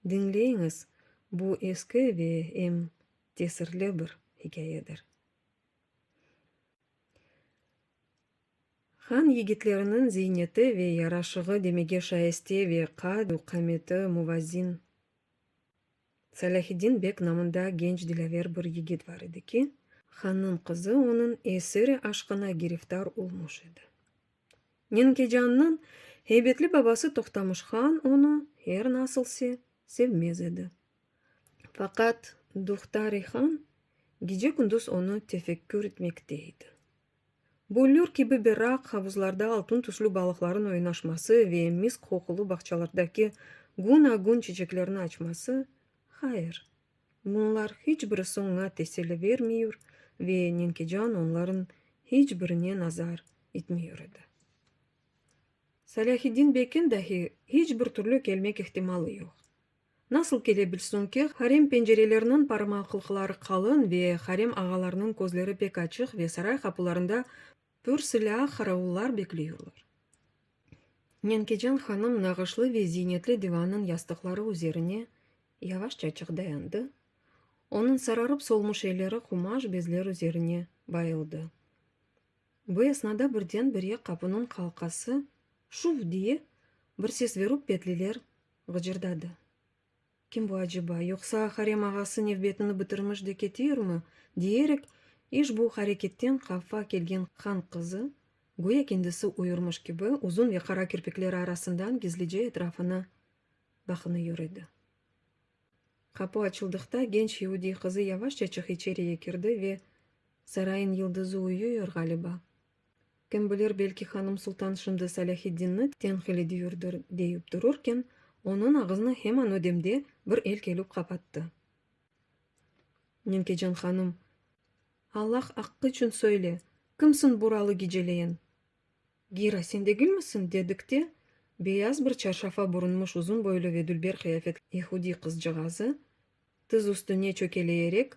Diñleyiñiz, bu eski ve em tesirli bir hikâyedir. Han yigitleriniñ ziyneti ve yaraşığı demege şayeste ve qad-u qameti muvazzin. Salâhiddin bek namında genç dilâver bir yigit bar edi ki, hannıñ qızı onıñ esiri aşqına giriftar olmuş edi. Nenkecanniñ heybetli babası Tohtamış han onı, her nasıl se, sevmez edi. Faqat Duhtari han gece-kündüz onı tefekkür etmekte edi. Büllür kibi berraq havuzlarda altın tüslü balıqların oynaşması ve misk qoqulı bağçalardaki gün-a-gün çiçeklerni açması, hayır, bunlar hiç birisi oña teseli vermiyur ve Nenkecan onların hiç birine nazar itmiyur edi. Salâhiddin bekin dahi hiç bir türlü kelmek ihtimalı yoq. Nasıl kele bilsin ki, harem pencereleriniñ parmaqlıqları qalın ve harem ağalarnıñ közleri pek açıq ve saray qapularında pür silâ qaravullar bekleyorlar. Nenkecan hanım nağışlı ve ziynetli divannıñ yastıqları üzerine yavaşça çıq dayandı, onıñ sararıp solmuş elleri qumaş bezler üzerine bayıldı. Bu esnada birden-bire qapınıñ qalqası şuf diye bir ses verüp petliler Gıcırdadı. Kim bu aceba, yoqsa harem ağası nevbetini bitirmiş de ketiirmi? diyerek, işbu hareketten hafa kelgen han qızı, güya kendisi uyurmış kibi, uzun ve qara kirpikleri arasından gizlice etrafına baqınıur edi. Qapu açıldıqta, genç iudiy qızı yavaşçaçıq içeriye kirdi ve, Sarayın yıldızı uyuyor, ğaliba. Kim bilir, belki hanım sultan şimdi Salâhiddinni tenqil ediyurdır, deyip dururken, onıñ ağızını heman o demde bir el kelüp qapattı. Nenkecan hanım, Allah aqqı içün söyle, kimsiñ buralı geceleyin? Gira, sen degilmisiñ? dedik de, beyaz bir çarşafa burunmış uzun boylu ve dülber qıyafetli yehudiy qızcağazı, tiz üstüne çökeleyerek,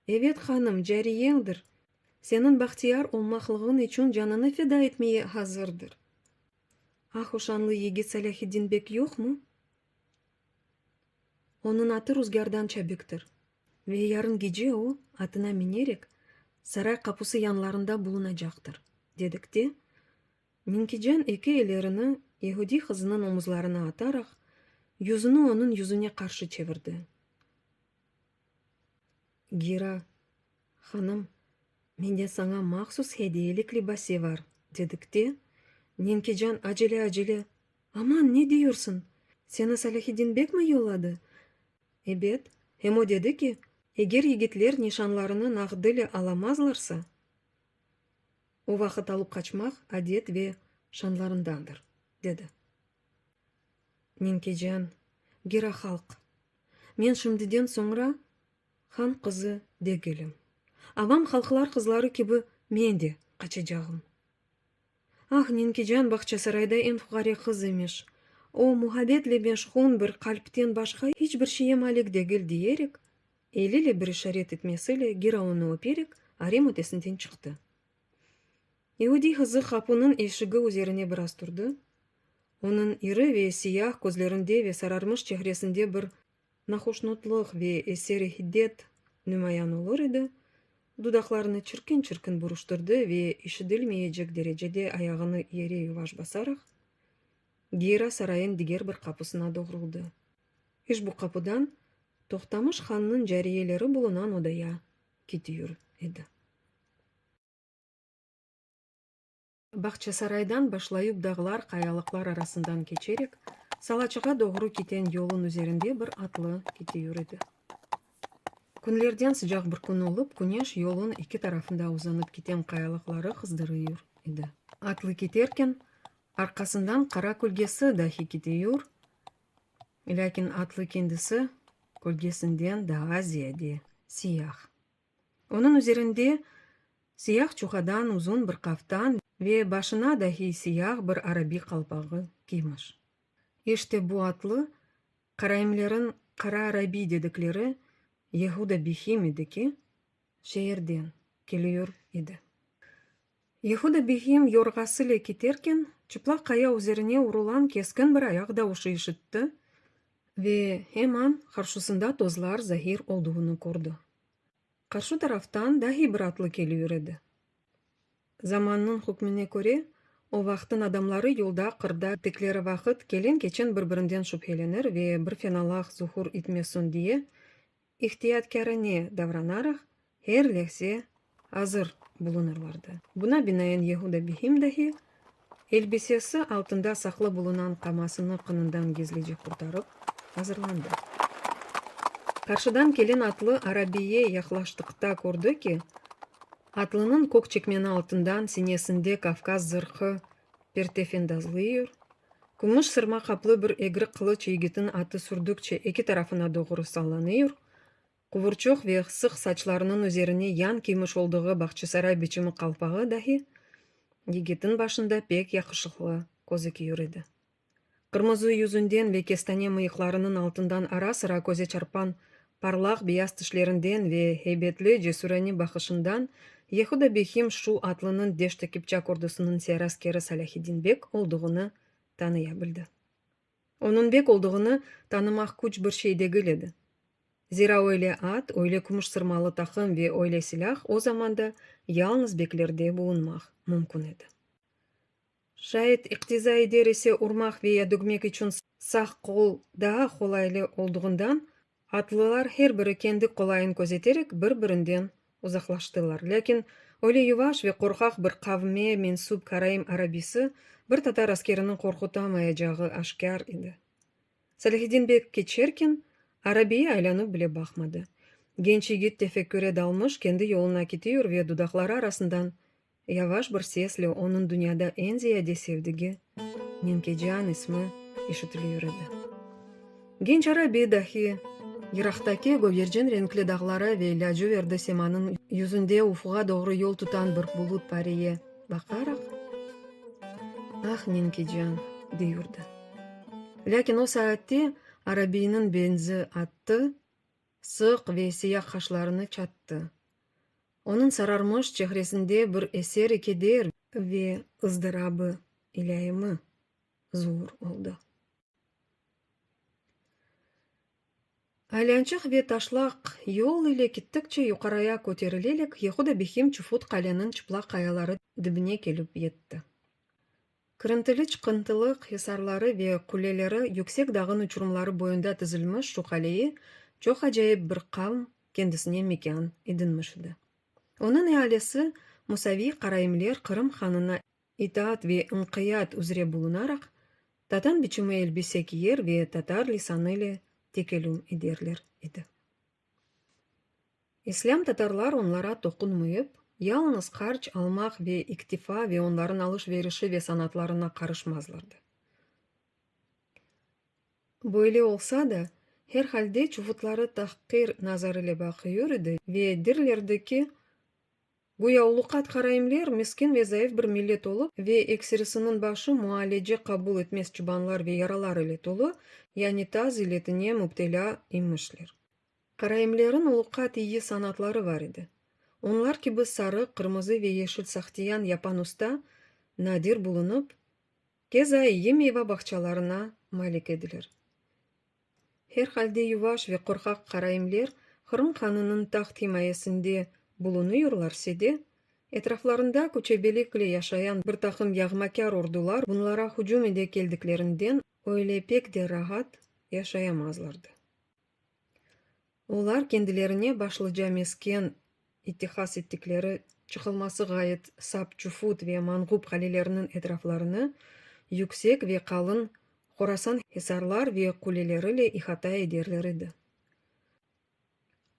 Evet, hanım, cariyeñdir, Seniñ bahtiyar olmaqlığıñ içün canını feda etmeye hazırdır. Ahu şanlı yigit Salâhiddin bek yoqmı? Onıñ atı ruzgârdan çabiktir ve yarın gece o, atına minerek, saray qapusı yanlarında bulunacaqtır, dedik de, Minkican eki ellerini yehudiy qızınıñ omuzlarına ataraq, yüzüni onıñ yüzüne qarşı çevirdi. Gira, hanım, mende saña mahsus hediyelik libase var, dedik de, Nenkican acele-acele, Aman, ne diyorsun? Seni Salâhiddin bek mi yolladı? Ebet, hem o dedi ki, eger yigitler nişanlarını nağd ile alamazlarsa, o vaqıt alıp qaçmaq adet ve şanlarındandır, dedi. Ninkecan, Gera halq. Men şimdiden soñra han qızı degilim. Avam halqlar qızları kibi men de qaçacağım. Ah, Ninkecan Bağçasarayda eñ fuqare qız imiş. O, muhabbetle meşhun bir qalpten başqa iç bir şeye malik degil, diyerek, eliyle bir işaret etmesiyle Gera onı öperek, arem ötesinden çıqtı. İudiy qızı qapınıñ eşigi üzerine biraz turdı, onıñ iri ve siyah közlerinde ve sararmış çehresinde bir nahoşnutlıq ve eseri hiddet nümayan olur edi, dudaqlarını çirkin-çirkin buruştırdı ve işidilmeyecek derecede ayağını yere yuvaş basaraq, Geyra sarayıñ diger bir qapısına doğruldı. İşbu qapıdan Toqtamış hannıñ cariyeleri bulunan odaya ketiür edi. Bağçasaraydan başlayıp dağlar, qayalıqlar arasından keçerek, Salaçığa doğru kiten yolun üzerinde bir atlı kiti yürüdi. Künlerden sıcaq bir kün olıp, küneş yolun eki tarafında uzanıp kiten qayalıqları qızdırıyur edi. Atlı keterken, arqasından qara kölgesi dahi ketiyur, lâkin atlı kendisi kölgesinden daa ziyade siyah, Onıñ üzerinde siyah çuhadan uzun bir qaftan ve başına dahi siyah bir arabiy qalpağı kiymiş. İşte bu atlı, qaraimleriñ qara arabiy dedikleri Yehuda Bihim edi ki, şeerden keliür edi. Yehuda Bihim yorğasıle keterken, çıplaq qaya üzerine urulan keskin bir ayaq davuşı işitti ve heman qarşusında tozlar zahir olduğunı kördi. Qarşı taraftan dahi bir atlı keliür edi. Zamannıñ hükmüne köre, o vaqtın adamları yolda, qırda ettikleri vaqıt kelen-keçen bir-birinden şübhelenir ve bir fenalaq zuhur itmesun diye, ihtiyatkârane davranaraq, her lehze azır bulunırlardı. Buna binaen Yehuda Bihim dahi, elbisesi altında saqlı bulunan qamasını qınından gizlice qurtarıp, azırlandı. Qarşıdan kelen atlı arabiye yaqlaştıqta kördi ki, atlınıñ kök çekmeni altından sinesinde Kavkaz zırhı Pertefen dazlıyor. Kümüş sırma qaplı bir egri qılıç yigitin atı sürdükçe eki tarafına doğru sallanıyor. Quvurçuq ve ğsıq saçlarınıñ üzerine yan kiymiş olduğu Bağçasaray biçimi qalpağı dahi yigitin başında pek yaqışıqlı közüküyor edi. Qırmızı yüzünden ve kestane mıyıqlarınıñ altından ara-sıra köze çarpan parlaq beyaz tişlerinden ve heybetli, cesürane baqışından Yehuda Behim şu atlınıñ Deşt-i Kipçak ordusınıñ siyar askeri Salâhiddin bek olduğını tanıya bildi. Onıñ bek olduğını tanımaq küç bir şey degil edi. Zira öyle at, öyle kümüş sırmalı taqım ve öyle silâh o zamanda yalñız beklerde bulunmaq mümkün edi. Şayet iqtiza eder ise urmaq veya dügmek içün sağ qol daa qolaylı olduğından atlılar her biri kendi qolayın közeterek bir-birinden uzaqlaştılar. Lâkin öyle yuvaş ve qorqaq bir qavme mensüp Karaim arabisi bir tatar askeriniñ qorqutamayacağı aşkâr edi. Salihiddin bek keçerken arabiye aylanıp bile baqmadı. Genç yigit tefekküre dalmış kendi yoluna kitiyor ve dudaqları arasından Yavaş bir sesle onıñ dünyada eñ ziyade sevdigi, Nenkecan ismi işitilüyor edi. Genç arabiy dahi, yıraqtaki gögercin renkli dağlara ve lâciverdi semanıñ yüzünde ufuğa doğru yol tutan bir bulut pariye baqaraq, Ah, Nenkecan! deyurdı. Lâkin o saatte arabiyniñ benzi attı, sıq ve siyah qaşlarını çattı. Onıñ sararmış çehresinde bir eseri keder ve ızdırabı ilâimi zuur oldı. Aylânçıq ve taşlaq yol ile kittikçe yuqaraya köterilelik Yehuda Bihim Çufut qaleniñ çıplaq qayaları dibine kelip yetti. Kırıntılı-çıqıntılı hisarları ve quleleri yüksek dağın uçurımları boyunda tizilmiş şu qaleyi çoq acayip bir qavm kendisine mekân edinmiş edi. Onıñ ealisi Musaviy Qaraimler Qırım hanına itaat ve inqiyat üzre bulunaraq, tatan biçimi elbise kiyer ve tatar lisanı ile tekelüm ederler edi. İslâm tatarlar onlara toqunmıyıp, yalıñız qarç almaq ve iktifa ve onların alış-verişi ve sanatlarına qarışmazlardı. Böyle olsa da, her halde çuvutları tahqir nazar ile baqıyor idi ve dirlerdi ki, Güya uluqat qaraimler miskin ve zayıf bir millet olıp ve eksirisiniñ başı mualece qabul etmez çıbanlar ve yaralar ile tolu, yani taz iletine mübtelâ imişler. Qaraimleriñ uluqat iyi sanatları var edi. Onlar kibi sarı, qırmızı ve yeşil sahtiyan yapan usta nadir bulunıp, keza iyi meyva bağçalarına malik ediler. Her halde yuvaş ve qorqaq qaraimler Qırım hanınıñ taht himayesinde bulunıyorlarse de, etraflarında köçebelikle yaşayan bir taqım yağmakâr ordular bunlara hücüm ede keldiklerinden öyle pek de rahat yaşayamazlardı. Olar kendilerine başlıca mesken ittihas ettikleri, çıqılması ğayet sap Çufut ve Manğup qaleleriniñ etraflarını yüksek ve qalın Horasan hisarlar ve quleleriyle ihata ederler edi.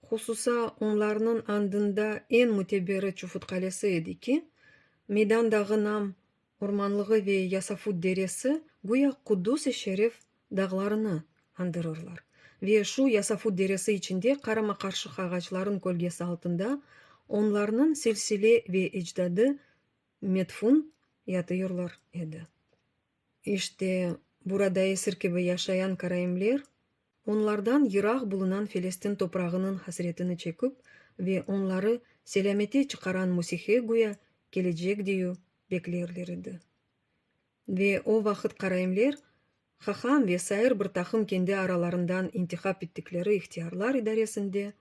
Hususa, onlarnıñ andında eñ müteberi Çufut qalesi edi ki, meydandağı nam ormanlığı ve Yasafut deresi güya Qudus-i Şerif dağlarını andırırlar ve şu Yasafut deresi içinde qarama-qarşıq ağaçların kölgesi altında onlarnıñ silsile ve ecdadı medfun yatıyırlar edi. İşte burada esir kibi yaşayan karaimler Onlardan yıraq bulunan Felestin toprağınıñ hasretini çeküp ve onları selâmete çıqaran Musihe güya kelecek diyu beklerler edi. Ve o vaqıt qaraimler, Haham ve sair bir taqım kendi aralarından intihap ettikleri ihtiyarlar idaresinde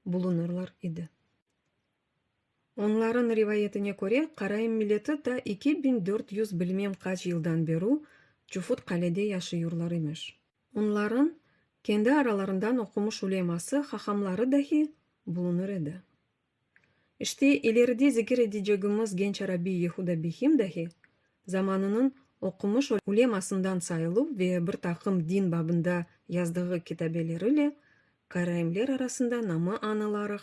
bulunırlar edi. Onlarıñ rivayetine köre, Qarayım milleti ta eki biñ dört yüz bilmem qaç yıldan beru Çufut-Qalede yaşayurlar imiş. Onlarıñ kendi aralarından oqumış uleması, hahamları dahi bulunur edi. İşte, ileride zikir edicegimiz genç arabiy Yehuda Bihim dahi zamanınıñ oqumış ulemasından sayıluv ve bir taqım din babında yazdığı kitabeleri ile qarayımler arasında namı añılaraq